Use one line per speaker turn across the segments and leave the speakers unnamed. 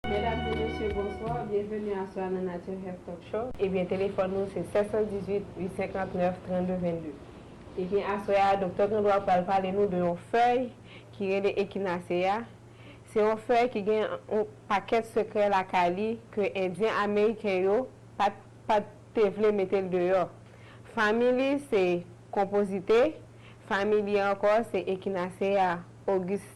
Medam e mesye bonswa, byenveni aswè a nan Nature Health Talk Show. Ebyen telefòn nou se 718-859-3222. Ebyen aswè a Doktè Grandwa pral pale nou de yon fèy ki rele Echinacea, se yon fèy ki gen yon pakèt sekrè lakay li ke endyen ameriken yo pat pat te vle mete l deyò. Fanmi li se Compositae, fanmi li ankò se Echinacea Augusta.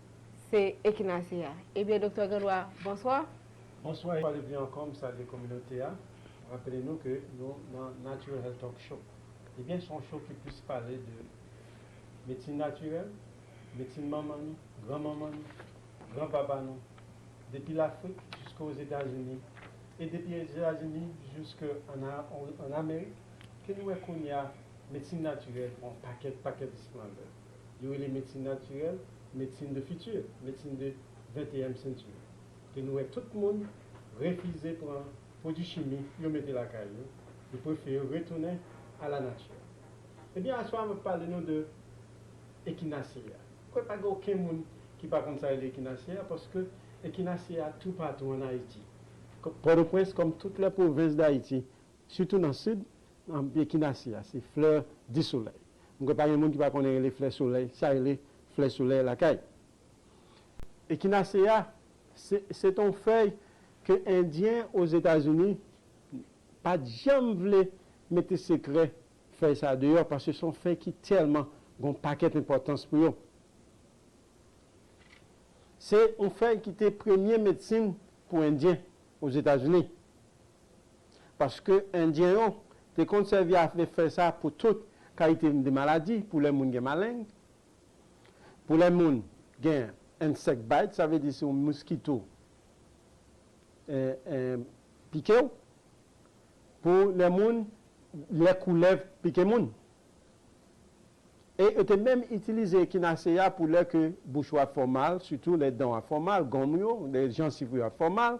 Se Ekinasi a. Ebyen Doktè Gandwa, bonswa! Bonswa yon fwa de
pli ankò, m salye kominote a. M rapele nou ke nou nan Natural Health Talk Show. Ebyen se yon show ki plis pale de medsin natirèl, medsin manman nou, gran manman nou, gran papa nou, depi Lafrik jiske Ozetazini, e depi Ozetazini jiske an Amerik, ke nou wè kounya medsin natirèl pran pakèt pakèt esplandè. yo rele medsin natirèl medsin de fiti, medsin de venteyèm sentu, ke nou wè tout moun refize pran pwodui chimi yo mete lakay yo, yo prefere retounen a la nati. Ebyen aswè a m ap pale nou de ekinasye a. M kwè pa gen oken moun ki pa konn sa rele ekinasye a, paske ekinasye a toupatou an Ayiti. Pòtoprens, kòm tout lè pwovens Dayiti, Sitou nan sid, Echinacea a se flè di solèy. M kwè pa gen moun ki pa konnen rele flè solèy, sa rele flè solèy lakay. Echinacea se se t on fèy ke endyen Ozetazini pa t janm vle mete sekrè fèy sa a deyò paske se on fèy ki tèlman gen on pakèt enpòtans pou yo. Se on fèy ki te premye medsin pou endyen Ozetazini. Paske endyen yo te konn sèvi avèk fèy sa pou tout kalite de maladi, pou lè moun gen maleng, pou lè moun gen insect bite, sa vle di si yon moskito pike w, pou lè moun, lè koulèv pike moun. E yo te menm itilize Echinacea ya pou lè ke bouch ou ap fè w mal, sitou lè dan w ap fè w mal, gonm ou yo, lè jansiv ou yo ap fè w mal,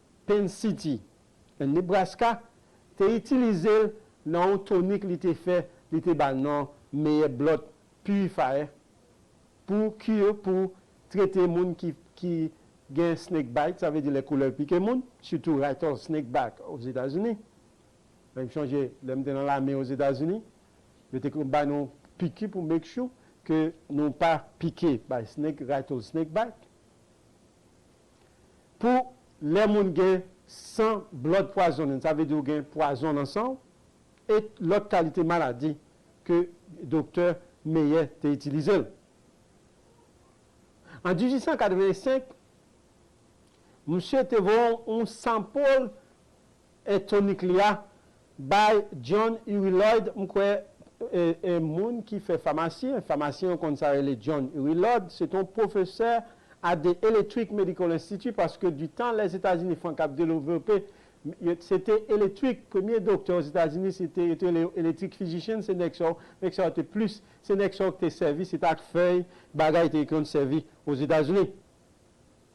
Penn City, nan Nebraska, te itilize l nan yon tonik li te fè li te ba l non meyè blòd purifier pou cure pou trete moun ki gen snake bite sa vle di lè koulèv pike moun sitou rattle snake back ozetazini men m chonje lè m te nan lame ozetazini yo te konn bay nou piki pou make sure ke nou pa pike by snake rattle snake bite. Pou lè moun gen san blood poisoning sa vle di ou gen pwazon nan sanw et lòt kalite maladi ke doktè Meyer te itilizel. An 1885 msye te voye yon sample E tonik li a? By John Uri Lloyd M kwè e moun ki fè famasyen, famasyen yo konn sa rele John Uri Lloyd, se te yon pwofesè a The Electric Medical Institute paske di tan Lèzetazini fank ap delovepe se te electric premye doktè Ozetazini se te yo te rele yo electric physician se nèg sa yo nèg sa yo te plis se nèg sa yo ki te sèvi se te ak fèy bagay te yo konn sèvi Ozetazini.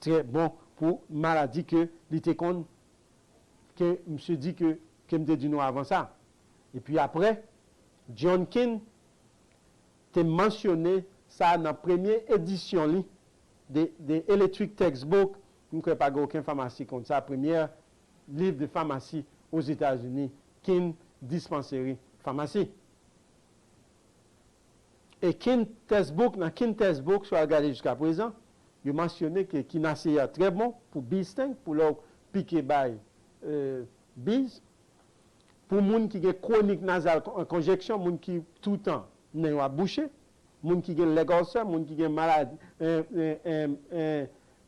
Trè bon pou maladi ke li te konn ke misye di ke ke m te di nou avan sa. E pi apre, John Keane te mansyone sa
nan premye edisyon li de The Electric Textbook, m kwè pa gen oken famasi konn sa, premyè liv de famasi Ozetazini, Keane Dispensary Pharmacy. E kin tès bouk nan kin tès bouk sou al gade jiska prezan yo mansyone ke kin asye a trè bon pou biz tank pou lè w pike bay biz pou moun ki gen kwonik nazal konjeksyon moun ki toutan nen yo ap bouche moun ki gen lèg òlsè moun ki gen maladi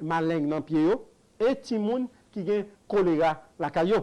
maleng nan pye yo e timoun ki gen kolera lakay yo.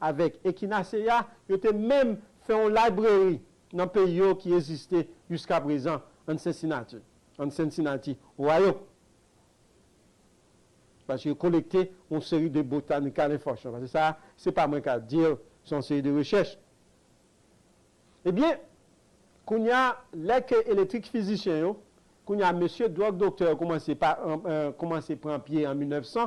Avèk Ekinaseya, yo te menm fè yon libreri nan peyi yo ki eziste jiskaprezan ann Sensinati, an Cincinnati, Ohio, paske yo kolekte yon seri de botanical enfòsyon, paske sa a, se pa mwen k ap di l, se yon seri de rechèch. Ebyen, kounye a, lè ke elektrik fizisyen yo, kounye a mesye dwòg doktè yo koumanse pa, koumanse pran pye an 1900,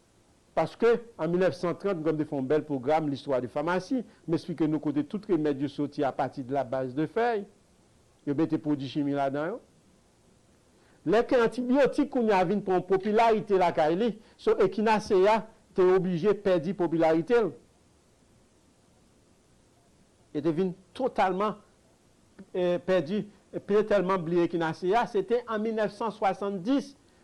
Paske, an 1930, m konn te fè yon bèl pwogram L'histoire de pharmacie, m esplike nou kote tout remèd yo soti a pati de la base de fèy. Yo mete pwodui chimi ladan yo. Lè ke antibiotik kounye a vin pran yon popilarite lakay li, so Echinacea te oblije pèdi popilarite l. Yo te vin totalman pèdi, pye tèlman bliye Echinacea. Se te an 1970.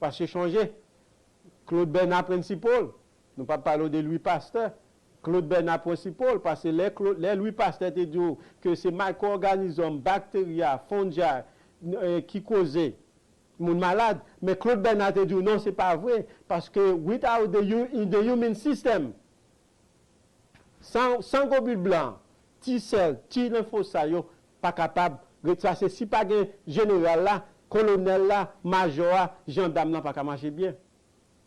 Paske chonje, Claude Bernard Principal, nou pa pale w de Louis Pasteur, Claude Bernard Principal, paske lè Claude, lè Louis Pasteur te di w ke se micro-organism, bacteria, fungi, ki koze moun malad, men Claude Bernard te di w non se pa vre, paske without the human system, San san gobit blan, ti sèl, ti lenfo sa yo pa kapab retrase si pa gen jeneral la, kolonèl la, majò a, jandam lan pa ka mache byen.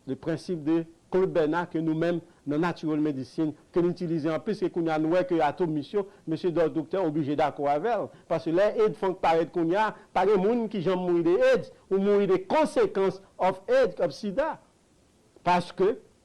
Le principe de Claude Bernard ke nou menm nan Natural Medicine ke n itilize anplis ke kounye a nou wè ke atomis yo, mesye dò doktè oblije dakò avè l. Paske lè aids funk parèt kounye a, pa gen moun ki janm mouri de aids, ou mouri de konsekans of aids, of sida. Paske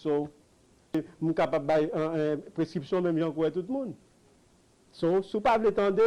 So, m kapab bay preskripsyon menm jan kou tout moun. So, si w pa vle tande,